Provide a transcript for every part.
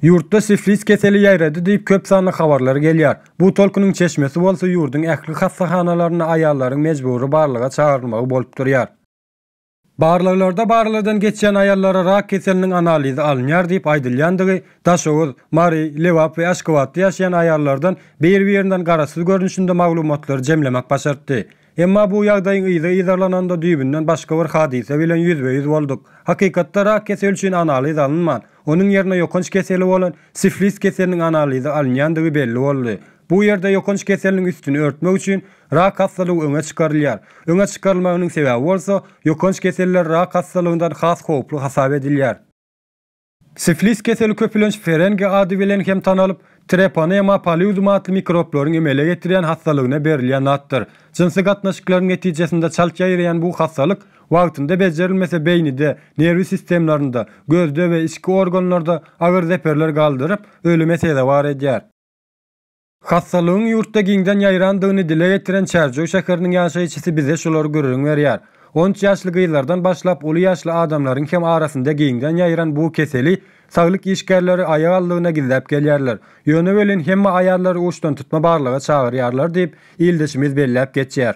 Ýurtda siflis keseli ýaýrady diýip köp sanly habarlar gelýär. Bu tolkunyň çeşmesi bolsa ýurduň ähli hassahanalarynda aýallaryň mejbury barlaga çagyrylmagy bolup durýar. Barlaglarda barlagdan geçýän aýallara rak keseliniň analizi alynýar diýip aýdylýandygy, Daşoguz, Mary, Lebap we Aşgabatda ýaşaýan aýallardan bir-birinden garaşsyz görnüşinde maglumatlary jemlemek başartdy. Emma bu ýagdaýyň yzy yzarlananda düýbünden başga bir hadysa bilen ýüzbe-ýüz bolduk. Hakykatda rak keseli üçin analiz alynman, onuň ýerine ýokanç keseli bolan siflis keseliniň analizi alynýandygy belli boldy. Bu ýerde ýokanç keseliniň üstüni örtmek üçin rak hassalygy öňe çykarylýar. Öňe çykarylmagynyň sebäbi bolsa, ýokanç keseller rak hassalygyndan has howply hasap edilýär. Siflis keseli köpülenç ferengi ady bilen hem tanalyp, Treponema paludum atly mikroplaryň emele getirýän hassalygyna berilýän atdyr. Jynsy gatnaşyklaryň netijesinde çalt ýaýraýan bu hassalyk wagtynda bejerilmese beýnide, nerwi sistemlarynda, gözde we içki organlarda agyr zeperler galdyryp, ölüme sezewar edýär. Hassalygyň ýurtda giňden ýaýrandygyny dile getiren Çärjew şäheriniň ýaşaýjysy bize şulary gürrüň berýär. On üç ýaşly gyzlardan başlap uly ýaşly adamlaryň hem arasynda giňden ýaýran bu keseli saglyk işgärleri aýak aldygyna gizläp gelýärler. Ýöne welin hemme aýallary uçdantutma barlaga çagyrýarlar diýip, ildeşimiz belläp geçýär.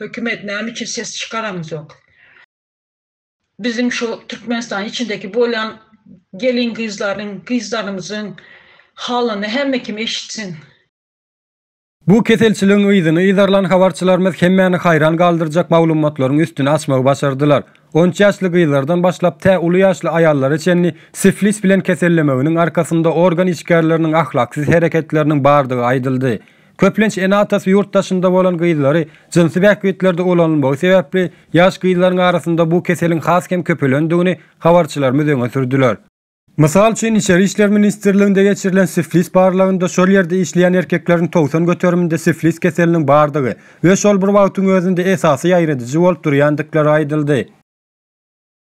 Hökümet näme üçin ses çykaramzok. Biziň şu Türkmenistanyň içindeki bolýan gelin gyzlaryň, gyzlarymyzyň halyny hemme kim eşitsin. Bu keselçiligiň yzyny yzarlan habarçylarymyz hemmäni haýran galdyrjak maglumatlaryň üstüni açmagy başardylar. On üç ýaşly gyzlardan başlap tä uly ýaşly aýallara çenli siflis bilen kesellemeginiň arkasynda organ işgärleriniň ahlaksyz hereketleriniň bardygy aýdyldy. Köplenç ene-atasy ýurt daşynda bolan gyzlary jynsy bähbitlerde ulanylmagy sebäpli, ýaş gyzlaryň arasynda bu keseliň has hem köpelendigini habarçylarymyz öňe sürdüler. Mysal üçin, Içeri işler ministrliginde geçirilen siflis barlagynda şol ýerde işleýän erkekleriň togsan göteriminde siflis keseliniň bardygy we şol bir wagtyň özünde esasy ýaýradyjy bolup durýandyklary aýdyldy.